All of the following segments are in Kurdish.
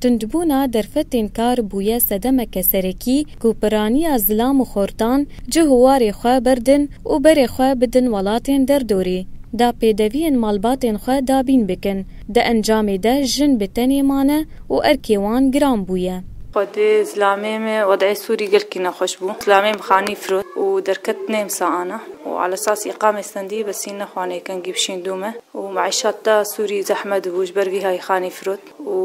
Tundbûna derfetên kar bûye sedemeke serekî ku piraniya zilam û xortan cih û warê xwe berdin û berê xwe bidin welatên derdorê da pêdeviyên malbatên xwe dabîn bikin. Di encamê de jin bi tenê mane û erkê wan giran bûye. Xwedê zilamê me wedeyê Sûrî gelkî nexweş bû. Zilamê bi xanî firot û derket nê msa ana û ala sas îqamê stendî besîn nexwanê kengî bişîn dû me û meîşat da Sûrî zehme dibû ji ber vî hay xanî firot. û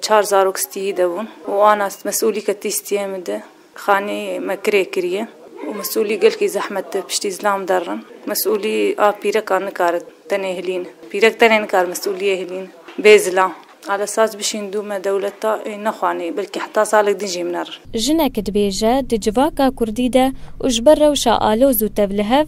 çar zarok stîyî de bûn û ana mesûlî ke tî stîyê min de xanî me kirê kirîye û mesûlî gelkî zehmet de piştî zilam derrin. Mesûlî a pîrek a nikare tenê hilîn. Pîrek tenê nikare mesûlîyê hilîn bê zilam. Ala saz bişîn dû me dewleta ê nexwanî belkî heta salek din jî min erin. Jinek dibêje di civaka kurdî de û ji ber rewşa aloz û tevlihev,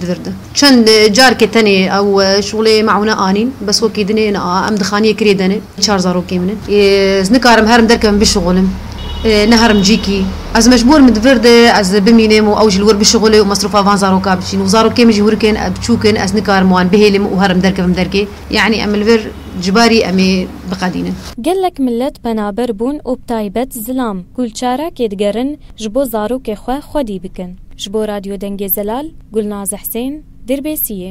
Divirdi. Çend carkê tenê ew şolê meûne anîn, bes wekî din ê, na, em dixaniyê kirê denê. Çar zarokê min in. Ez nikarim herim derkevim bişuxulim. Neherim cîkî. Ez mecbûr im divirdi ez bimînim û ew jî li wir bişuxule û mesrûfa van zaroka biçîn û zarokê min jî hûrik in, biçûk in, ez nikarim wan bihêlim û herim derkevim derkê. Yanî em li vir ji barî em ê biqedînin. Gelek milet penaber bûn û bi taybet zilam, gulçarakê digerin, ji bo zarokê xwe xwedî bikin. Ji bo Radyo Dengê Zelal, Gulnaz Hsên, Dirbêsiyê.